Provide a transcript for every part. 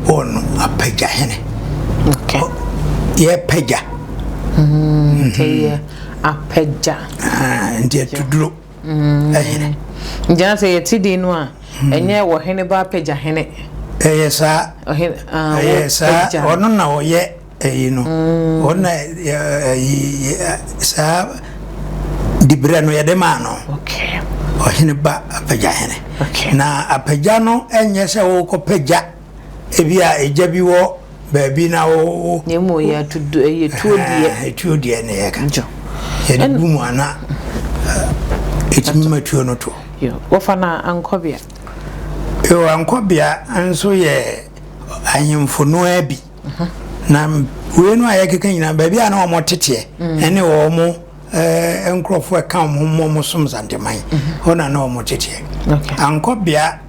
Paul no apagya hene. Okay. Oh, yɛpagya. Mm, yɛ apagya. Ah, nti atuduro hene. Gyina sɛ yɛte din no a, ɛnyɛ wɔ hene ba apagya hene. Ɛyɛ saa. Ɛyɛ saa. Ɔno na ɔyɛ ayi no wɔn na ayi saa dibrɛ no yɛde maa no ɔhene ba apagya hene na apagya no nyɛ sɛ wɔkɔ pagya ebi a egya bi wɔ baabi na wɔwɔ. na emu yɛ atudo ɛyɛ tuo deɛ. tuo deɛ na yɛ ka yɛde bu mu ana etumi ma tuo no to. wɔfa na ankɔbea. yoo ankɔbea nso yɛ ahemfo noa bi. Na wei no a yɛkeka nyinaa baabi a na wɔn teteɛ mhm. ne wɔn eh, nkurɔfoɔ ɛka wɔn ho mmɔ wɔn som zanteman mhm. hɔ na na wɔn teteɛ ankɔ bea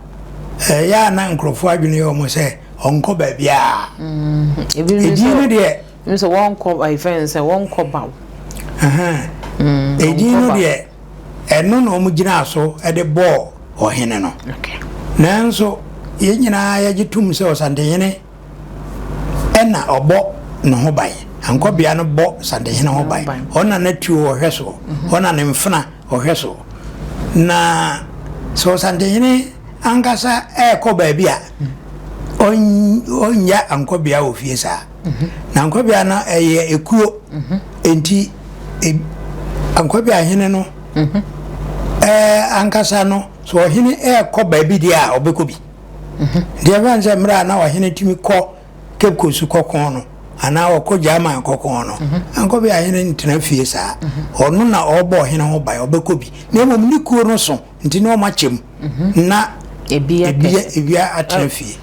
ɛyɛ eh, a na nkurɔfoɔ adwene yɛ wɔn sɛ ɔnkɔ baabiara mhm. edin no deɛ sɛ wɔnkɔ ayi eh, fɛn sɛ wɔnkɔ baw mm, edin no deɛ ɛno na wɔn gyina so de bɔɔ ɔhene no nanso yɛn nyinaa yɛgye tum sɛ ɔsantehene. na ɔbɔ ne ho ban. Ankɔbea no bɔ Santehene ho ban. Ɔna n'atuo ɔhwɛ soɔ. Ɔna ne mfena ɔhwɛ soɔ. Na sɛ Ɔsantehene ankasa ɛrekɔ baabi a, ɔnnya Ankɔbea wɔ fie saa. Na Ankɔbea no ɛyɛ ekuo. Enti Ankɔbea hene no ankasa no, sɛ ɔhene ɛrekɔ baabi deɛ a, ɔbɛkɔ bi. ho. Nti ɛmfa no sɛ mmerɛ a na ɔhene tumi kɔ Cape Coast kɔko no anaa ɔkɔ German kɔko no, ankɔ bia hene ntena fie saa. Ɔno na ɔbɔ ɔhene ho ban, ɔbɛkɔ bi. Na mmom ne kuo no so nti na ɔma kyɛm na ebia atena fie.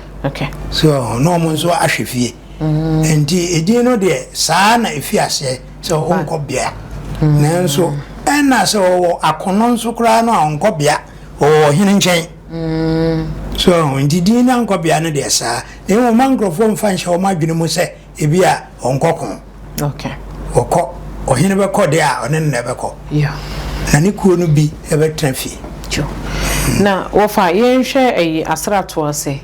So ɔho, na ɔmo nso ahwɛ fie. Nti edin no deɛ saa na ɛfiri aseɛ sɛ ɔnkɔ bia. Nanso ɛna sɛ ɔwɔ akono nso koraa no a ɔnkɔ bia, ɔwɔ ɔhene nkyɛn. So ho nti din no ankɔ bea no deɛ saa, na mmom mma nkurɔfoɔ mfa nhyɛ wɔn adwene mu sɛ ebia wɔnkɔ ko. Wɔkɔ, ɔhene bɛkɔ deɛ a, ɔne no na ɛbɛkɔ, na ne kuo no bi bɛtena fie. Na wɔfa yɛnhwɛ ɛyi asratoɔ ase,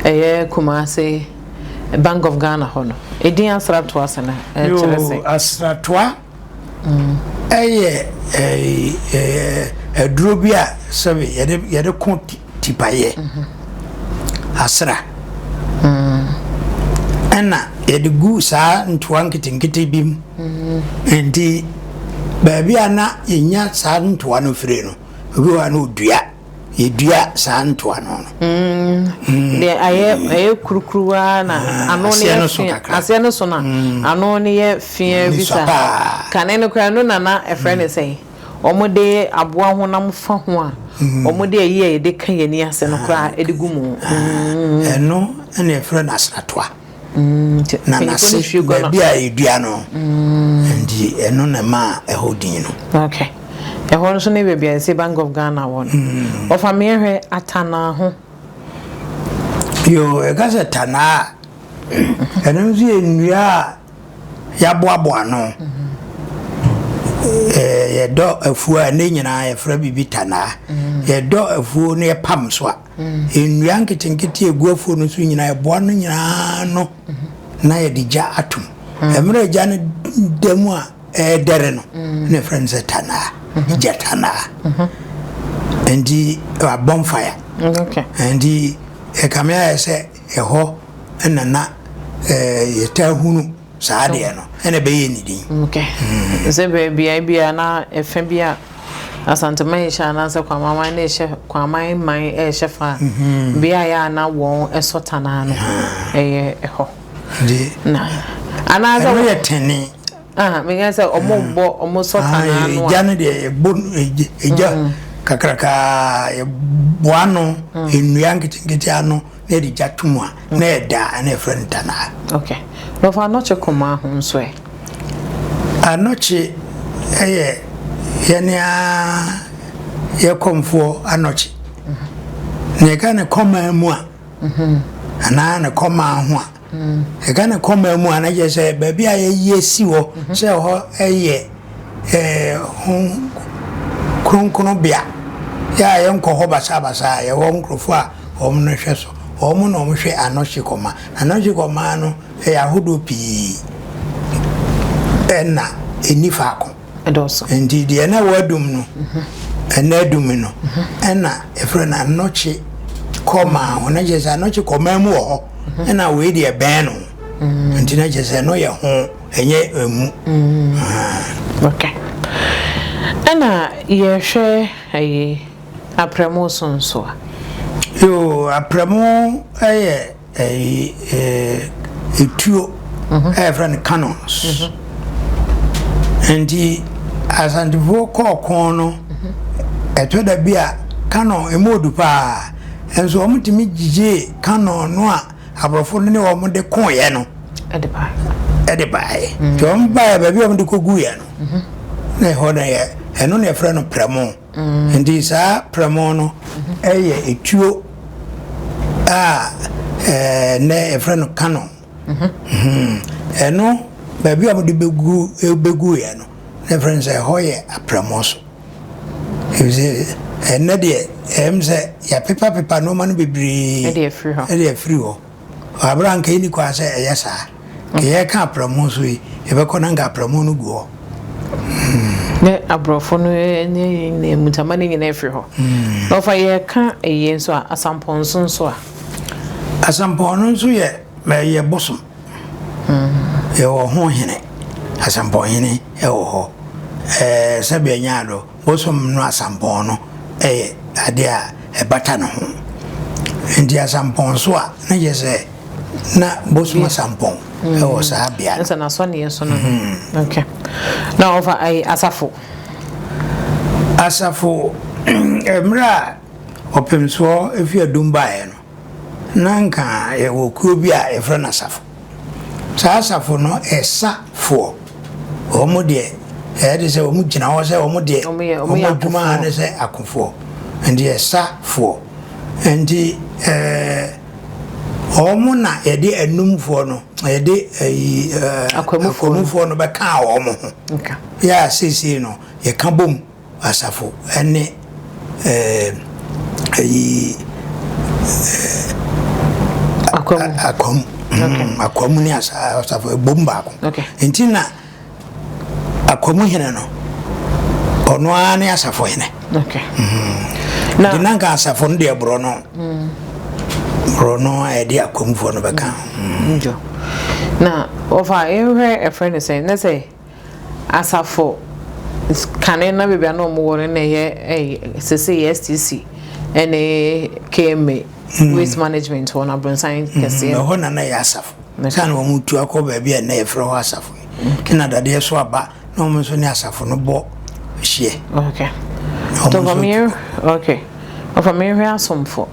ɛyɛ Kumase, Bank of Ghana hɔ no, edin asratoɔ ase no ɛkyerɛ sɛn? Yoo, asratoa. Ɛyɛ aduro bi a sɛbi yɛde yɛde ko tipaeɛ, asra. Ɛna yɛde gu saa ntoa nketenkete bi mu. Nti baabi a na yɛnya saa ntoa no firi no, obi wɔ hɔ a na ɔdua. yɛdua saa ntoa no no. Mm, deɛ ayɛ ɛyɛ kurukuruwa na ano no yɛ fi aseɛ no so na ano no yɛ fiɛ bi sa kane no koraa no nana ɛfrɛ ne sɛn wɔn de aboa honam fa ho a wɔn de ayi a yɛde ka yɛn ani ase no koraa ɛde gu mu ɛno ɛna ɛfrɛ no asratoa Nanase baabi a yɛdua no nti ɛno na ɛmaa ɛhɔ din no. Okay. Ɛhɔ nso ne baabi a yɛsɛ Bank of Ghana wɔ no. Mm. Ɔfa meɛ hwɛ Atanaa ho. Yoo, ɛka sɛ Tanaa ɛno nso yɛ nnua a yɛaboaboa ano. Yɛdɔ afuo a ne nyinaa yɛfrɛ biribi Tanaa. Yɛdɔ afuo na yɛpam so a Nnua nketenkete a egu afuw no so nyinaa, ɛboa no nyinaa ano na yɛde gya atom. Mmerɛ a gya no da mu a ɛredɛre no na ɛfrɛ no sɛ tanaa, gya tanaa. Nti a bonfire. Nti ɛkame ayɛ sɛ ɛhɔ na na yɛtaa hunu. Saa deɛ no, ɛna ɛbɛyɛ ne din. Ok. Sɛ bɛ, beaɛ bi a na ɛfɛ bi a Asante man rehyɛ anaasɛ Kwama man rehyɛ, Kwama man rehyɛ fa a, beaɛ a na wɔn sɔ tanaa no, ɛyɛ ɛhɔ. Nti, Na, anaasɛ ɛno wɔ, yɛ tene. ah, meka sɛ wɔn rebɔ, wɔn sɔ Ah, tanaa no a, egya no deɛ, yɛbɔ no, egya, egya kakrakaa, yɛboa ano, nnua nketenkete ano. Na yɛde gya to mu a, na ɛyɛ dɛ a, na yɛfrɛ no tanaa. Ok. Wɔfa anɔkye kumaa ho nso ɛ? Anɔkye yɛ yɛne a yɛ kɔmfoɔ anɔkye. Na yɛka ne kɔmaa mu a, anaa ne kɔmaa ho a. Ɛka ne koma mu a, na kyerɛ sɛ baabi a yɛyi asi hɔ sɛ hɔ yɛ kronkronbea yɛ a yɛnkɔ hɔ basabasa a yɛwɔ nkurɔfoɔ a wɔn no hwɛ so wɔn na wɔn hwɛ anɔhye kɔma anɔhye kɔma no yɛ ahodoɔ pii ɛna ɛni faako. dɔɔso. Enti deɛ na wɔadum no ɛna adumi no ɛna ɛfrɛ no anɔkye kɔmaa ho na kyerɛ sɛ anɔkye kɔmaa mu wɔ hɔ ɛna wei deɛ bɛn no nti na kyerɛ sɛ ɛno yɛ ho ɛnyɛ ɛmu. Okay. Ɛna yɛhwɛ ɛyi aprɛmo so nso a? Yoo aprɛmo ɛyɛ. etuo a yɛfrɛ no cannons nti asantefoɔ kɔɔ ko no ɛtɔ da bi a canon ɛmu odu paa nso wɔn tumi gyigyee canon no a aborɔfo no ne wɔn de koeɛ no ɛde baeɛ nti wɔn baeɛ baabi a wɔn de kɔguiɛ no na ɛhɔ no yɛ ɛno na yɛfrɛ no prɛmo Enti saa prɛmo no yɛ etuo a nnɛ yɛfrɛ no Canon. Ɛno baabi a wɔde bɛgu bɛguiɛ no na yɛfrɛ no sɛ ɛhɔ yɛ aprɛmo so. Efisɛ ɛnnɛ deɛ ɛyɛ me sɛ yɛapepapepa nnoɔma no bebree de afiri hɔ. Wɔ bere a anka enni kwan sɛ ɛyɛ saa, nka yɛreka apramu so yi, yɛbɛkɔ na anka apramu no gu hɔ. Hmm. Ne aborɔfo no ne ne mutama no nyinaa firi hɔ. Na ɔfa yɛreka ɛyɛ nso a, asampɔn nso nso a. Asampɔn no nso yɛ ɛyɛ bosom. Hmm. Yɛwɔ ho hene, asampɔn hene ɛwɔ hɔ. Ɛɛ sɛbi ɛnyɛ ado. Bosom no asampɔn no yɛ ade a ɛbata ne ho. Enti asampɔn so a, na kyerɛ sɛ na bosom asampɔn wɔ saa bea no. Asafo, Mmerɛ a ɔpemsoɔ firi adum baeɛ no, na anka yɛwɔ kuo bi a yɛfrɛ no asafo. Saa asafo no yɛ sa foɔ. Wɔn deɛ ɛyɛ te sɛ wɔn gyina hɔ sɛ wɔn deɛ wɔn adwuma ha ne sɛ akofoɔ. Nti yɛ sa foɔ. Nti ɛɛ wɔn na yɛde anumfoɔ no yɛde ɛyi ɛɛ akwamufoɔ no bɛkaa wɔn ho. Yɛ a seesei no yɛka bom. Asafo ne ɛɛ ɛyi ɛɛ akwam akwam ne asafo ebom baako nti na akwam hene no ɔno ara ne asafo hene nti na nka asafo no deɛ borɔ no borɔ no a yɛde akwamfoɔ no bɛka ho. na ɔfa yɛnhwɛ ɛfrɛ no sɛ na sɛ asafo kane na baabi a na wɔwɔ no na ɛyɛ sese yɛ STC ɛne KMA hmm. waste management wɔn abronsan hmm. kɛseɛ. na hɔ na na yɛ asafo saa na wɔn tu akɔ baabi a na yɛfrɛ hɔ asafo ɛna dadeɛ so aba na wɔn nso ne asafo no bɔ hyeɛ. okay tɔfamiyɛ okay ɔfamiyɛ hwɛ asomfo.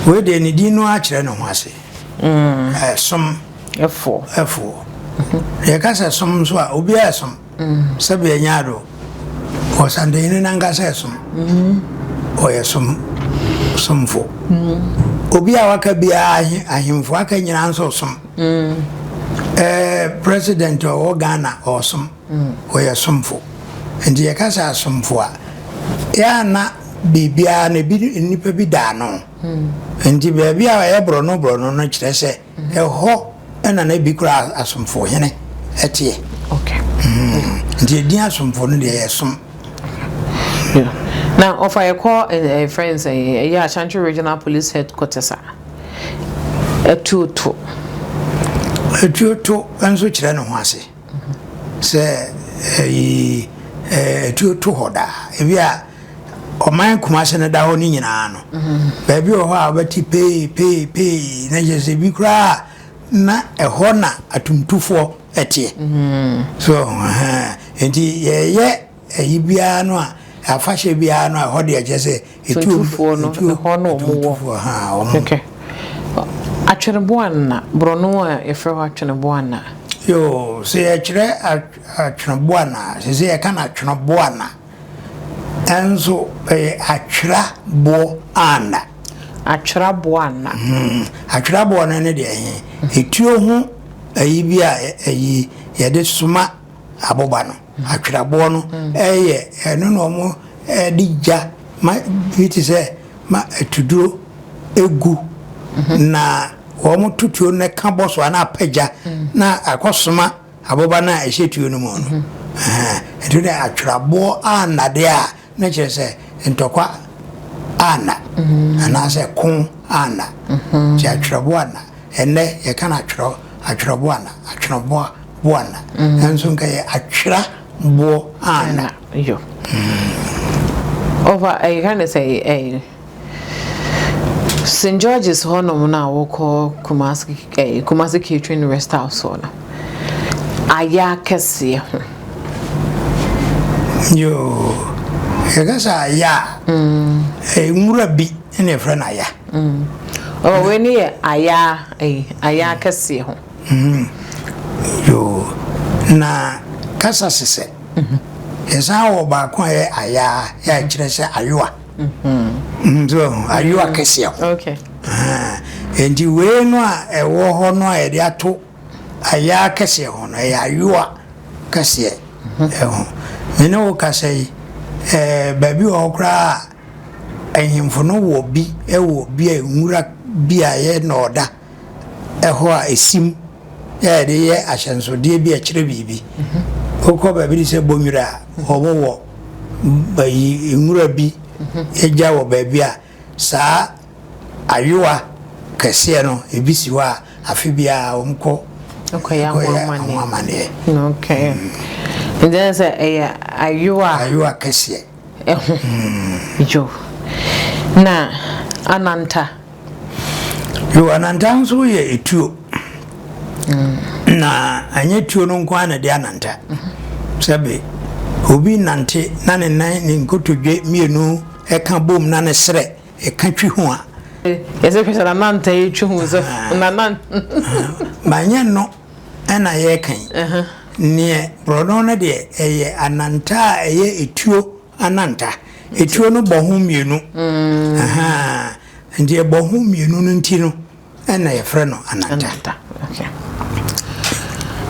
wei deɛ ne din no akyerɛ ne ho ase. ɛsom. Mm. Eh, Ɛfoɔ. Ɛfoɔ. Yɛka sɛ som nso a, obiara ɛsom. Sɛbi ɛnyɛ ado. Ɔsantanyini nankasa ɛsom. Ɔyɛ som somfo. Obi a waka biara ahemfo aka nyinaa nso som. Ɛɛ president ɔwɔ Ghana ɔsom. Ɔyɛ somfo. Nti yɛka sɛ asomfo a, yɛanna biribiara na ebi nipa bi da ano. Nti baabi a ɛyɛ borɔno borɔno no kyerɛ sɛ. Ɛhɔ na na ebi kura asomfo hene teɛ. Nti edin asomfo no deɛ yɛ som. Na ɔfa yɛ kɔ ɛfrɛ no sɛ ɛyɛ Ashanti Regional Police Headquarters a, Atuo to. Atuo to nso kyerɛ ne ho ase. Sɛ ɛyi atuo to hɔ daa ebi a ɔman Kumase no da hɔ no nyinaa no baabi wɔ hɔ a wɔbɛte pee pee pee na kyerɛ sɛ ebi koraa na ɛhɔ na atumtufoɔ ɛteɛ so nti yɛyɛ Ayi biara no a, afahyɛ biara no a, ɛhɔ deɛ kyerɛ sɛ etuo Tumtufoɔ no ntuo ne hɔ na wɔn wɔ. tumtufoɔ ha wɔn. Okay. Atweneboanna, borɔno a yɛfrɛ hɔ atweneboanna. Yoo, sɛ yɛkyerɛ atw atweneboanna a, ɛsɛ sɛ yɛka no atweneboanna. Nanso ɛyɛ atweraboanna. Atweraboanna. Hmm. Atweraboanna no deɛ ɛhe? Etuo ho ayi bi a ɛ- ayi yɛde soma aboba no. Atwerɛboɔ no yɛ ɛno na wɔde gya ma bi te sɛ ma atuduro gu na wɔn to tuo no na ɛka bɔ so a na apa gya na akɔ soma aboba no a ɛhyɛ tuo no mu no ɛhɛn ɛto dɛ atwerɛboɔ a nnadeɛ a No kyerɛ sɛ ntɔkwa anna anaasɛ ko anna, nti atwerɛbo anna. Ɛnnɛ yɛka no atwerɛ, atwerɛbo anna, atwerɛboa, boa anna, nanso nka yɛ atwera boɔ anna. Ɔfa ɛyɛ ka ne sɛ ɛyɛ. St. George's hɔnom no a wɔkɔ Kumasi eh, Kumasi Catering Rest House hɔ no ayɛ akɛseɛ ho. Yoo, yɛka sɛ aya a, mm. eh, nwura bi na yɛfrɛ no aya. Mm. Oh, wei ne yɛ aya eh, aya akɛseɛ ho. Mm. Yoo, na kasa sesɛ. Mm-hmm. Yɛsan wɔ baako a yɛ aya a yɛakyerɛ sɛ ayowa. Ayo akɛseɛ ho. Nti wei no a ɛwɔ hɔ no a yɛde ato ayaa kɛseɛ ho no ɛyɛ ayoa kɛseɛ ɛho me ne wo kasa yi ɛɛ baabi wɔ hɔ koraa a ahemfo no wɔ bi ɛwɔ bi a nwura bi a yɛ na ɔda Ɛhɔ a esim a yɛde yɛ ahyɛnsodeɛ bi a ɛkyerɛ biribi. Wokɔ baabi te sɛ Bonnwura a, wɔwɔ ayi nwura bi agya wɔ baabi a saa ayowa kɛseɛ no ebi si hɔ a afe biara wɔkɔ kɔyɛ ho amaneɛ. Okay. Nti ɛne sɛ ɛyɛ ayowa. Ayowa kɛseɛ. Ɛho. Yo. Na ananta. Yoo, ananta nso yɛ etuo. Mm. Na ɛnyɛ tuo no nko ara na ɛde ananta. Sɛbe, obi nante na ne nan ne nkotodwe mmienu ɛka bom na ne serɛ ɛka twi ho a. Yɛsɛ hwɛ sɛ nananta yɛ twi ho sɛ ah. nanan. Manyɛ no ɛna yɛka yi. Neɛ borɔno no deɛ ɛyɛ ananta a ɛyɛ etuo. Ananta. Etuo no bɔ ho mmienu. Nti ɛbɔ ho mmienu no nti no ɛna yɛfrɛ no ananta.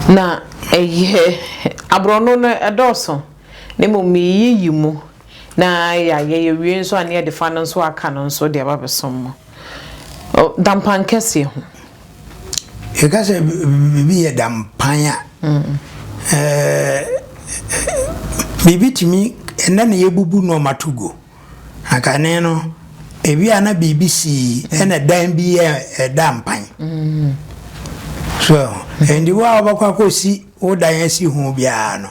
Na ɛyɛ aborɔno no ɛdɔɔso na mmom yɛyiyi mu na yɛayɛ yɛwie nso a na yɛde fa no nso a aka no nso de aba abɛsom mo dampan kɛseɛ ho. yɛka sɛ biribi yɛ dampan a biribi tumi ɛnɛ na yɛbubu nneɛma to gu na kane no ebi a na biribi sii ɛna dan bi yɛ ɛda mpan so ɛndi wo a wobɛkɔ akɔsi wo dan asi ho biara no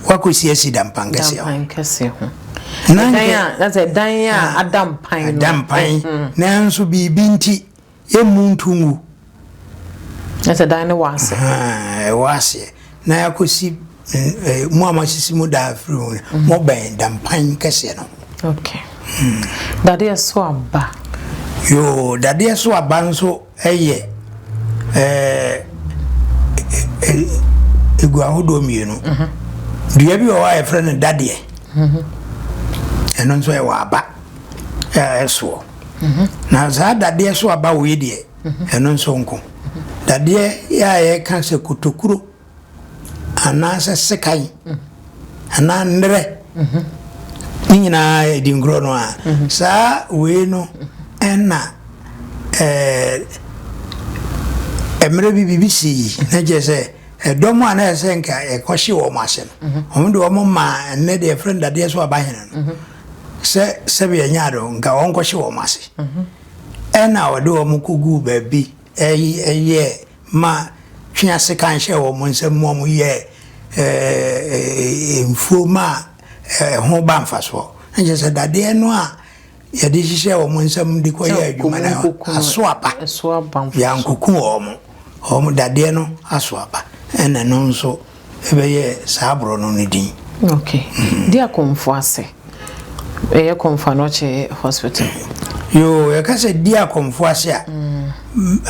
wakɔsi asi dampan kɛseɛ ho na sɛ dan a ada mpan no ada mpan nanso biribi nti yɛmmu nto ngu. Na sɛ dan no wɔ ase. Ahaa, ɛwɔ aseɛ. Na yɛakɔsi mo a moasisi mo dan afiri ho no, mobɛn dampan kɛseɛ no ho. Ok. Dadeɛ so aba. Yoo, dadeɛ so aba nso yɛ egu ahodoɔ mmienu. Dua bi wɔ hɔ a yɛfrɛ no dadeɛ. Ɛno nso ɛwɔ aba ɛsoɔ. Na saa dadeɛ so aba wei deɛ, ɛno nso nko. Dadeɛ yɛ a yɛka sɛ kotokuro anaasɛ sekan anaa nnerɛ ne nyinaa yɛ dinkuro no a, saa wei no ɛna ɛɛ mmerɛ bi biribi sii na kyerɛ sɛ ɛdɔm a na ɛsɛ nka ɛkɔhye wɔn ase no wɔn de wɔn maa ɛnɛ deɛ yɛfrɛ no dadeɛ so aba hene no Sɛ sɛbea nya do nka wɔnkɔhye wɔn ase. Ɛna wɔde wɔn koguu baabi yɛɛ ma twea sekan hyɛɛ wɔn nsam ma wɔn yɛɛ mfuo ma ɛho ba mfasoɔ. Na kyerɛ sɛ dadeɛ no a yɛde hyehyɛɛ wɔn nsam de kɔ yɛ adwuma no aso aba. Yɛankoku wɔn. Wɔn dadeɛ no aso aba. Ɛna no nso. ɛbɛyɛ saa borɔ no no din. Ok. Dia Komfo ase. Ɛyɛ Komfo Anɔkye Hospital. Yoo, yɛka sɛ Dia Komfo ase a,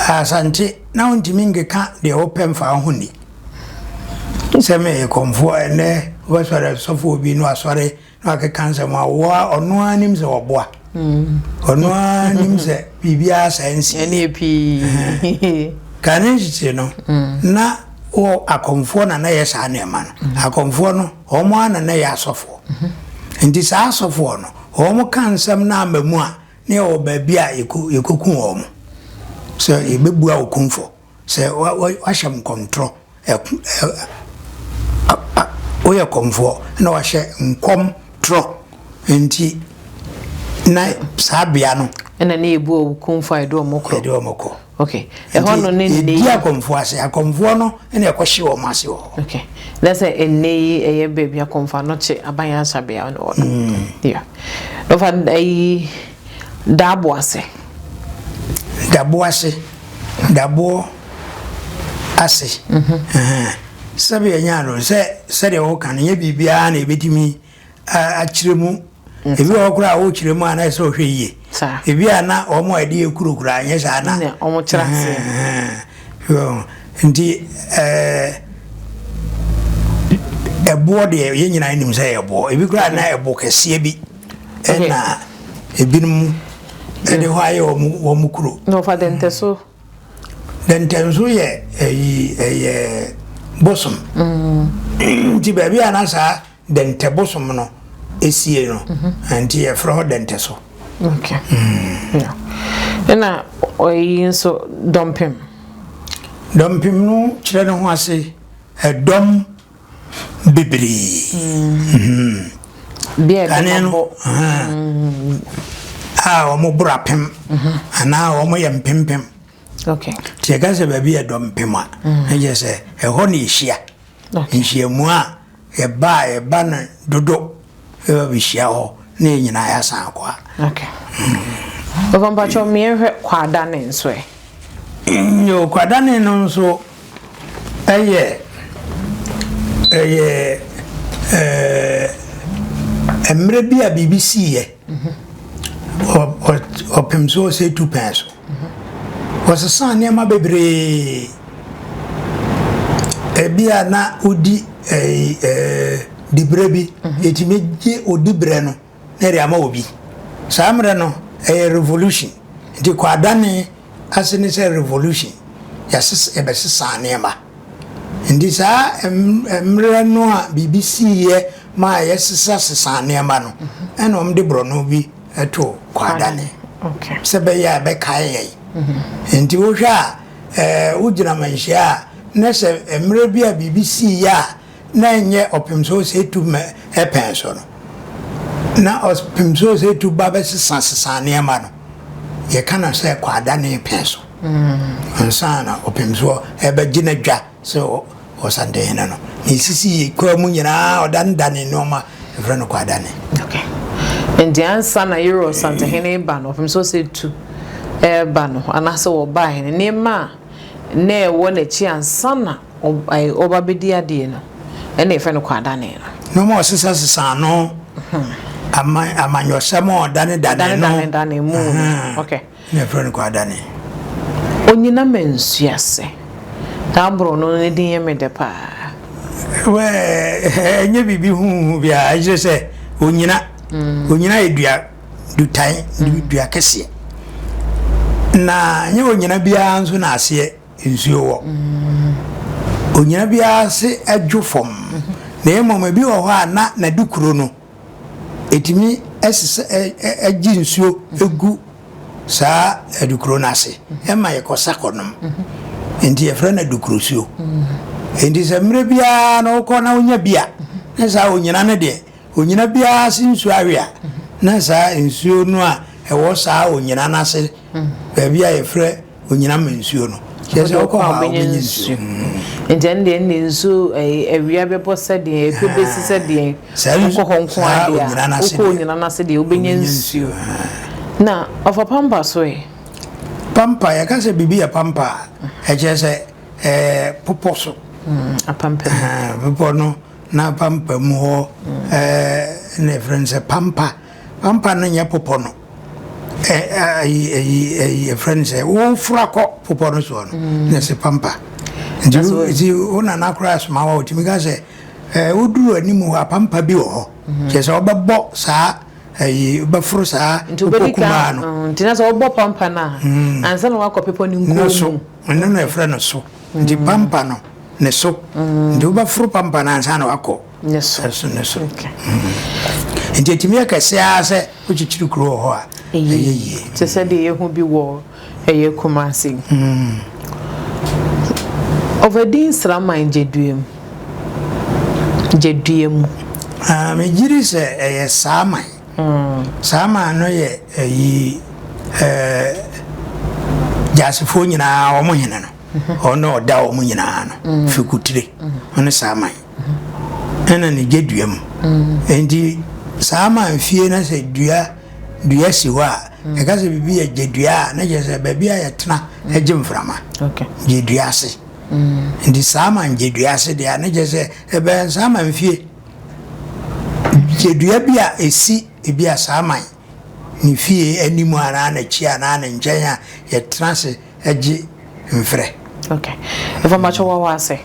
Asante na wontumi nkeka deɛ wopɛ mfa wo ho nni. Sɛ meyɛ Komfo a, ɛnnɛ wobɛsɔre sɔfoɔ bi na wasɔre Na wakeka nsɛm a ɔwɔ a ɔno ara nim sɛ ɔboa. Ɔno ara nim sɛ biribiara saa nsi. Ɛneɛ pii. Kane nkyekye no, na wɔ akɔmfoɔ na na yɛ saa nneɛma no. Akɔmfoɔ no, wɔn ara na na yɛ asɔfoɔ. Nti saa asɔfoɔ no, wɔn ka nsɛm no ama mu a, na yɛwɔ baabi a yɛkɔku wɔn. Sɛ yɛbɛbua okumfɔ. Sɛ wɔahyɛ nkɔmtorɔ, woyɛ kɔmfoɔ na wɔahyɛ nkɔm torɔ nti na saa bea no. Ɛna ne yɛbu wɔn kumfɔ a yɛde wɔn kɔ. Yɛde wɔn kɔ. Ok. Ɛhɔ no ne nne yi. Yɛdi akɔmfoɔ ase. Akɔmfoɔ no na ɛkɔhye wɔn ase wɔ hɔ. Ok. Na sɛ nne yi ɛyɛ baabi akɔmfoɔ anɔkye aban asabea na wɔ no. Mm. Yeah. Ɔfa ɛyi. Daboase. Daboase, daboɔ ase. Sɛdeɛ ɛnyɛ ade no, sɛ sɛdeɛ woka no, ɛnyɛ biribiara na ɛbɛtumi akyerɛ mu. Ebi wɔ hɔ koraa a wokyerɛ mu a na ɛsɛ sɛ wohwɛ yie. Ebi a na wɔn a ɛde yɛ kuro koraa nyɛ saa na. Wɔkyerɛ aseɛ. Nti ɛboɔ deɛ yɛn nyinaa nim sɛ ɛyɛ boɔ. Ebi koraa na ɛbo kɛseɛ bi. Ɛna ebinom de hɔ ayɛ wɔn wɔn kuro. Na ɔfa dɛntɛso. Dɛntɛnso yɛ ɛyi ɛyɛ bosom. Mm. Nti baabi a na saa dɛntɛ bosom no esie no, mm-hmm. nti yɛfrɛ hɔ dɛntɛso. Okay. Mm. Ɛna ɔyi nso dɔmpem. Dɔmpem no kyerɛ ne ho ase ɛdɔm. bebree. Mm-hmm. Bia ɛde ma bɔ. Mm-hmm. A wɔn boro apem mm-hmm. anaa wɔn yɛ mpempem. Okay. Sɛ ɛka sɛ baabi yɛ dɔ mpem a, ɛyɛ sɛ ɛhɔ na ehyia. Nhyiamu a yɛba a yɛba no dodo Yɛba bɛhyia hɔ na yɛn nyinaa yɛasan akɔ a. Okay. Papa mpakyɛ mmeɛnhwɛ kwaadane nso ɛ? Yo, kwaadane no nso ɛyɛ ɛyɛ ɛɛ mmerɛ bi a biribi siiɛ ɔpem so ɔsɛ tu pɛn so. Wɔsesaa nneɛma bebree. Ebia na wodi ɛyi ɛɛ dibrɛ bi. Mhm. Yɛtumi gye odibrɛ no na yɛde ama obi. Saa mmerɛ no ɛyɛ revolution. Nti kwaadane ase ne sɛ revolution. Yɛasesa yɛbɛsesaa nneɛma. Nti saa mmerɛ no a biribi siiɛ maa yɛsesasesaa nneɛma no, mhm. ɛna wɔde borɔno bi. to kwaadane sɛ bɛyɛ a ɛbɛkae yɛn. Nti wohwɛ a ɛɛ wogyina manhyia a na sɛ mmerɛ bi a biribi sii yɛ a na ɛnyɛ ɔpem sɛ ɔsɛ tu ma ɛpɛn so no na ɔpem sɛ ɔsɛ tu ba bɛsesa sesa nneɛma no yɛka no sɛ kwaadane pɛn so ansa na ɔpem so ɛbɛgyina dwa. Sɛ Ɔsante Hene no, ne sisi kwaa mu nyinaa ɔdanedane nnoɔma, yɛfrɛ no kwaadane. Okay. Nti ansa na Yere Ɔsante Hene reba no, ɔpem sɛ ɔsɛ tu reba no, anaasɛ wɔbaeɛ no, nneɛma a na ɛwɔ n'akyi ansa na ɔba bɛdi adeɛ no, ɛna yɛfrɛ no kwaadane no. Nneɛma a ɔsesasesa ano, hmm. amanyɔsɛm a ɔdanedane no. Danedane mu. Okay. Na yɛfrɛ no Kwadane. Onyina ma nsuase. Saa boro no ne din yɛ me dɛ paa. Well, ɛnyɛ biribi huuhu biara, ɛkyerɛ sɛ onyina. Onyina yɛ dua dutan, dua kɛseɛ. Na nyɛ onyina biara nso na aseɛ nsuo wɔ. Onyina biara ase dwo fam. Na mmom ebi wɔ hɔ a na n'adukuro no. ɛtumi sesa ɛgye nsuo gu saa adukuro no ase ɛma yɛkɔ sa kɔnom nti yɛfrɛ no adukuro suo nti sɛ mmerɛ biara na wokɔ na wonya bi a na saa onyina no deɛ onyina biara se nsuo awe a na saa nsuo no a ɛwɔ saa onyina no ase baabi a yɛfrɛ onyina ma nsuo no kyerɛ sɛ ɔkɔ hɔ a ɔbɛnya nsuo nti ɛno deɛ ɛnde nsuo awia bɛbɔ sɛdeɛ ɛpɛ bɛsi sɛdeɛ wokɔ hɔ nko adeɛ a wokɔ onyina no ase deɛ wobɛnya nsuo na ɔfa pampa so ɛ pampa yɛka sɛ biribi yɛ pampa a ɛkyerɛ sɛ popɔ so bepɔ no na pampa mu hɔ na ɛfrɛ no sɛ pampa pampa no nyɛ popɔ no yɛfrɛ no sɛ wofura kɔ popɔ no soɔ no mm. na ɛsɛ pampa nti wo nana koraa soma wa wɔtumi ka sɛ woduru anim hɔ apampa bi wɔ hɔ mm-hmm. kyerɛ sɛ wobɛbɔ saa ayi bɛforo saa pepɔ kumaa no mm, nti na sɛ wobɔ pampa no a mm. ansa na woakɔ pepɔ no nkuo so ɛno na ɛfrɛ no so nti pampa no ne so nti wobɛforo pampa no ansa na woakɔ Ne so. Ne so, ne so. Nti ɛtumi yɛ kɛseɛ ara sɛ wokyekyere kuro wɔ hɔ a, ɛyɛ yie. Te sɛ deɛ yɛhu bi wɔ ɛyɛ Kumasi. Mm. Ɔvadi nsraman gyedua mu. Gyedua mu. Ah, megyiri sɛ ɛyɛ saa man. Mm. Saa man no yɛ ɛyi ɛɛ gyasefoɔ nyinaa wɔn hene no. Ɔno ɔda wɔn nyinaa no. Fikutire. Ɔne saa man. ɛna ne gye dua mu nti saa ma nfie na sɛ dua dua si hɔ a ɛka sɛ biribi yɛ gye dua a na kyerɛ sɛ baabi a yɛtena gye mframa gye dua ase nti saa ma gye dua ase deɛ a na kyerɛ sɛ ɛbɛn saa ma nfie gye dua bi a ɛsi ebi a saa man ne fie anim anaa n'akyi anaa ne nkyɛn a yɛtena ase gye mfrɛ. Okay. Ɛfɔ mmakyɛ wawa ase.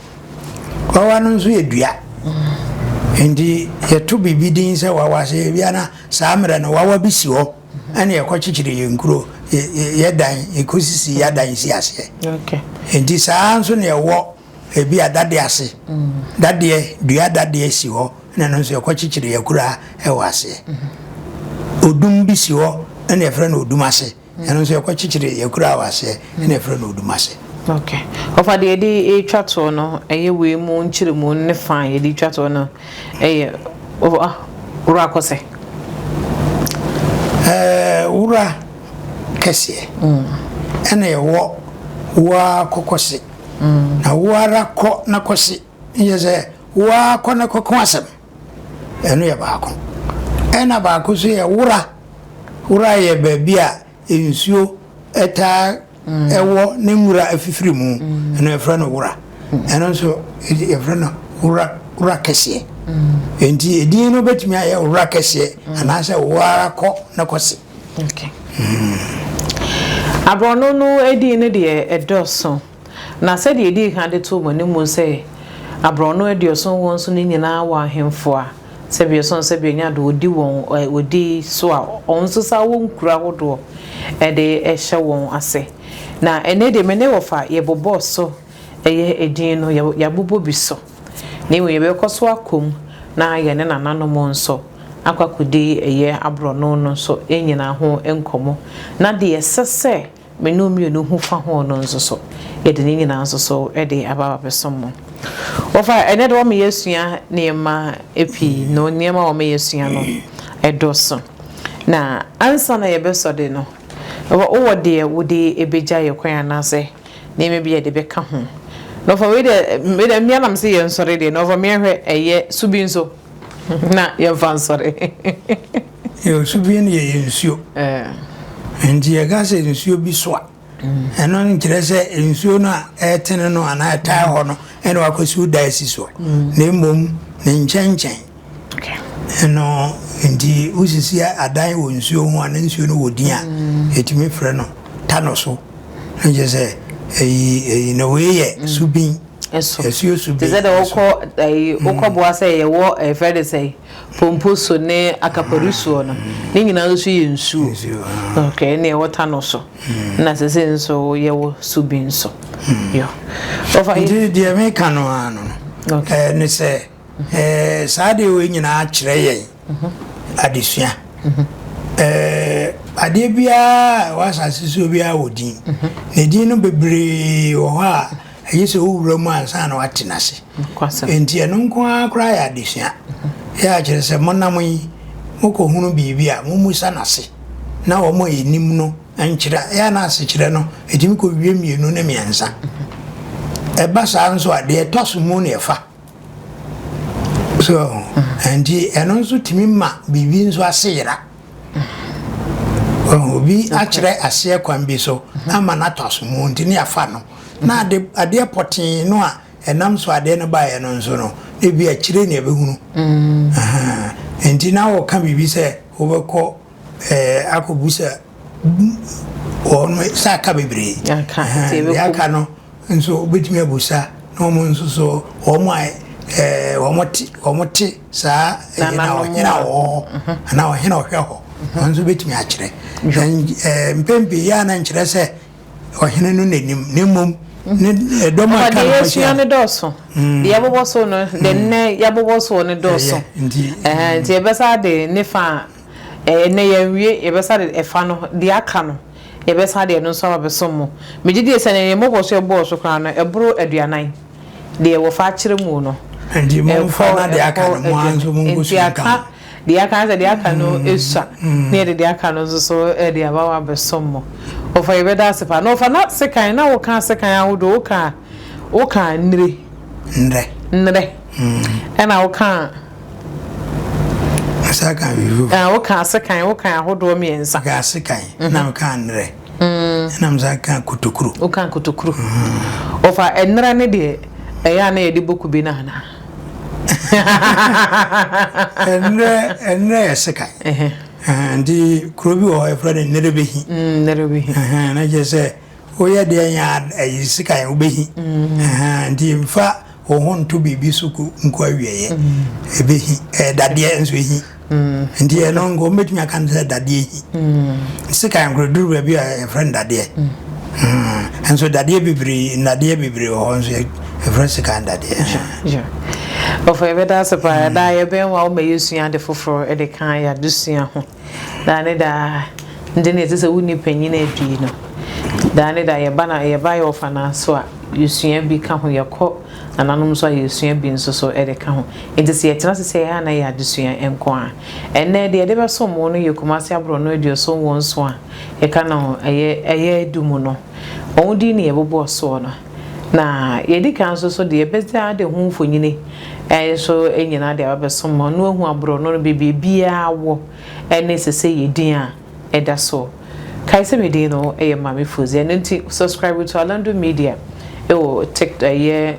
Wawa no nso yɛ dua. Mm. Nti yɛto biribi din sɛ wawa ase ebia na saa mmerɛ no wawa bi si hɔ ɛne yɛkɔ kyekyere yɛn kuro yɛdan yɛkɔsisi yɛadan si aseɛ. Okay. Nti saa nso na ɛwɔ Ebia dadeɛ ase, dadeɛ, dua dadeɛ si hɔ na ɛno nso yɛkɔkyekyere yɛn akuraa wɔ aseɛ. Odum bi si hɔ na yɛfrɛ no odum ase, ɛno nso yɛkɔkyekyere yɛn akuraa wɔ aseɛ na yɛfrɛ no odum ase. Ok. Ɔfa deɛ yɛde retwa toɔ no, ɛyɛ wei mu nkyerɛmu ne fa a yɛde retwa toɔ no yɛ Wura Kɔsɛ. Wura kɛseɛ ɛna ɛwɔ Wura Kɔkɔse. Na wo ara kɔ na kɔse, yɛ sɛ wo ara kɔ na kɔko asɛm. Ɛno yɛ baako. Ɛna baako nso yɛ wora. Wora yɛ baabi a nsuo taa ɛwɔ ne nwura afifiri mu. Ɛno yɛfrɛ no wora. Ɛno nso yɛfrɛ no wora wora kɛseɛ. Enti edin no bɛtumi ayɛ wora kɛseɛ anaasɛ wo ara kɔ na kɔse. Aborɔno no edin no deɛ ɛdɔɔso, na sɛdeɛ yɛdii kan de too mo anim sɛ aborɔno aduɔson wɔn so no nyinaa wɔ ahemfo a sɛbe ɔsɔn sɛbe ɔnya do ɔdi wɔn ɔdi so a wɔn nso saa wɔ nkuro ahodoɔ ɛde ɛhyɛ wɔn ase. Na ɛnɛ deɛ me ne wɔfa yɛbobɔɔ so Ɛyɛ edin no, yɛabobɔ bi so, na mmom yɛbɛkɔ so akɔ mu na yɛne nananom nso akɔ akɔdi ɛyɛ aborɔno no nso nnyina ho nkɔmmɔ, na deɛ ɛsɛ sɛ me ne wo mmienu hu fa ho no nso so, yɛde ne nyinaa nso so de aba abɛsom mo. Wɔfa, ɛnnɛ de wɔma yɛasua nneɛma pii, na nneɛma a wɔma yɛasua no, ɛdɔso. Na ansa na yɛbɛsɔ de no, wowɔ deɛ wode bɛgya yɛn kwan anaasɛ nneɛma bi a yɛde bɛka ho. Na ɔfa wei deɛ, me deɛ mmea nam sɛ yɛn nsɔre deɛ, na ɔfa mmea hwɛ ɛyɛ su bi nso na yɛn fa nsɔre. Yɛ osu bi no yɛ yɛ nsuo. Nti yɛ ka sɛ nsuo bi so a, ɛno no nkyerɛ sɛ nsuo no a ɛtene no anaa ɛtaa hɔ no ɛna wakɔ siw da asi soɔ, na mmom ne nkyɛnkyɛn. Ɛno nti wosisi adan wɔ nsuo ho a na nsuo no wɔ din a, yɛtumi frɛ no ta no so. Na kyerɛ sɛ ɛyi ɛyi na wei yɛ subin. Ɛso. Asuo subin. Te sɛ deɛ wokɔ ɛyi wokɔ boa sɛ yɛwɔ ɛfrɛ de sɛ pompo so ne akapari soɔ no ne nyinaa nso yɛ nsuo. Nsuo. Okay ɛna ɛwɔ ta no so. Na sɛ sɛ nso yɛwɔ subin so. Yɔ. Ɔfa yi. Nti deɛ meka no ara no. Okay. Ɛɛ ne sɛ. Ɛɛ, saa adeɛ wei nyinaa kyerɛ yɛn adesua. Ɛɛ, adeɛ biara a ɛwɔ asase so biara wɔ din. Na din no bebree wɔ hɔ a ɛyɛ sɛ wowura mu ansa na wate n'ase. Enti ɛno nko ara koraa yɛ adesua. Yɛ a kyerɛ sɛ monam yi, mokɔhunu biribi a, mommisa no ase na wɔn a ɛnim no nkyerɛ. Yɛ a na asekyerɛ no, ɛtumi kɔwie mmienu ne mmiɛnsa. Ɛba saa nso a, deɛ ɛtɔ so mu na ɛfa. so nti ɛno nso tumi ma biribi nso ase yera obi akyerɛ aseɛ kwan bi so ama no atɔ asomu nti ne afa no na ade adeɛ pɔtee no a ɛnam so adeɛ no baeɛ no nso no ebi akyire ne ɛbɛhunu nti na wɔka biribi sɛ wobɛkɔ ɛɛ akɔbu sɛ wɔ hɔ no sɛ aka bebree deɛ aka no nso wobɛtumi abusa na wɔn nso so wɔn a eh, wɔn te wɔn te saa ɛyɛ na ɔhena wɔ hɔ mhm. anaa ɔhena ɔhwɛ hɔ mhm. wɔn nso bɛtumi akyerɛ eh, mpɛn pii yɛ a na nkyerɛ sɛ ɔhene no n'anim na mmom ne eh, dɔm a ka no kɔhyɛ yɛsua no dɔɔso mm. deɛ yɛbobɔ so no de mm. nnɛ yɛbobɔ soɔ no dɔɔso nti ɛbɛsa de ne fa Ɛnnɛ yɛanwie, yɛbɛsa de ɛfa no, deɛ aka no, yɛbɛsa de ɛno nso aba bɛsom mo. Megye die sɛ nea yɛn mmɔbɔ so ɛbɔɔ so koraa no, ɛboro aduanan, deɛ wɔfa akyerɛ mu no. Enti momfa na deɛ aka no, mo ara nso monkɔsua nka ho. Enti aka deɛ aka, sɛ deɛ aka no sua, na yɛde deɛ aka no nso so de aba hɔ abɛsom mo. Ɔfa yɛbɛda ase paa. Na ɔfa na sekan, na woka sekan ahodoɔ, woka, woka nnire. Nnrɛ. Nnrɛ. Ɛna woka. Asa kan vivo. Ɛn eh, woka ase kan woka ahodoɔ mmiɛnsa. Woka ase kan mhm. na woka nnerɛ. Ɛna mm. mo san ka kotokuro. Woka kotokuro. Mm. Ɔfa nnerɛ ne deɛ ɛyɛ a na yɛde bɔ kube no anaa. Nnerɛ nnerɛ yɛ se kan. Nti kuro bi wɔ hɔ yɛfrɛ no nnerebehi. Mm, nnerebehi. Na kyerɛ sɛ Woyɛ deɛ nya ɛyi sika yɛ wobɛhi ahaa nti nfa wo ho nto biribi so ko nko awieɛ ɛbɛhi ɛyɛ dadeɛ nso ɛhi nti ɛno nka wɔbɛtumi aka no sɛ dadeɛ hi sika yɛ nkoro duru baabi a ɛfrɛ no dadeɛ nso dadeɛ bebree nnadeɛ bebree wɔ hɔ nso ɛfrɛ sika dadeɛ ɔfɔ yɛbɛda ase paa daa yɛbɛn wa woma yɛsua ade foforɔ de ka yɛ adesua ho Daa ne daa, nde na ɛsɛ sɛ wo ne panyin adii no. Daa ne daa, yɛba na yɛba yɛ ɔfanaa so a, yɛsua bi ka ho. Yɛkɔ nananom so a, yɛsua bi nso so de ka ho. Enti sɛ yɛtena ase sɛ yɛn a na ɛyɛ adesua nko ara. Ɛnnɛ, deɛ yɛde bɛsom wo no yɛ Kumasi aborɔno aduoson wɔ nson a yɛka no ɛyɛ ɛyɛ du mu no. Wɔn din na yɛbobɔ soɔ no. Na yɛadi kan nso so deɛ yɛbɛdze ade ho mfonyini nso anyina deɛ wabɛsom ma ɔno ahu aborɔno no baabi a biara wɔ ne sese yɛ din a ɛda so. Kae sɛ me din no yɛ Maame Foozi ɛno nti subscribe to Alando Media ɛwɔ tik ɛyɛ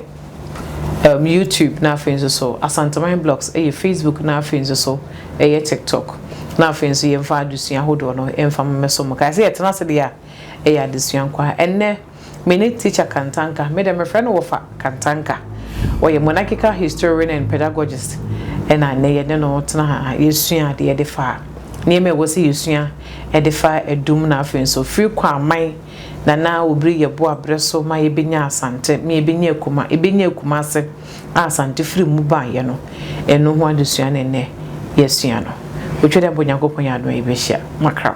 um, YouTube na afei nso so Asanteman Blogs ɛyɛ Facebook na afei nso so ɛyɛ TikTok na afei nso yɛmfa adesua ahodoɔ no ɛmfa mmɛso mo. Kae sɛ yɛtena ase deɛ a ɛyɛ adesua nkwa ɛnnɛ. Me ne Teacher Kantanka, me dɛ mefrɛ no wɔfa Kantanka. Ɔyɛ Monarchical Historian and Pedagogist na nnɛ yɛne no tena ha yɛsua adeɛ de fa nneɛma a ɛwɔ sɛ yɛsua de fa adum na afei nso firi kɔ aman na na wɔbiri yɛbo abrɛ so ma yɛbɛnya Asante, ma yɛbɛnya Akuma, yɛbɛnya Akumase a Asante firi mu baeɛ no, ɛno ho adesua na nnɛ yɛasua no. Otwa dɛ mpo Nyankopɔn yɛ adom a yɛbɛhyia. Makram.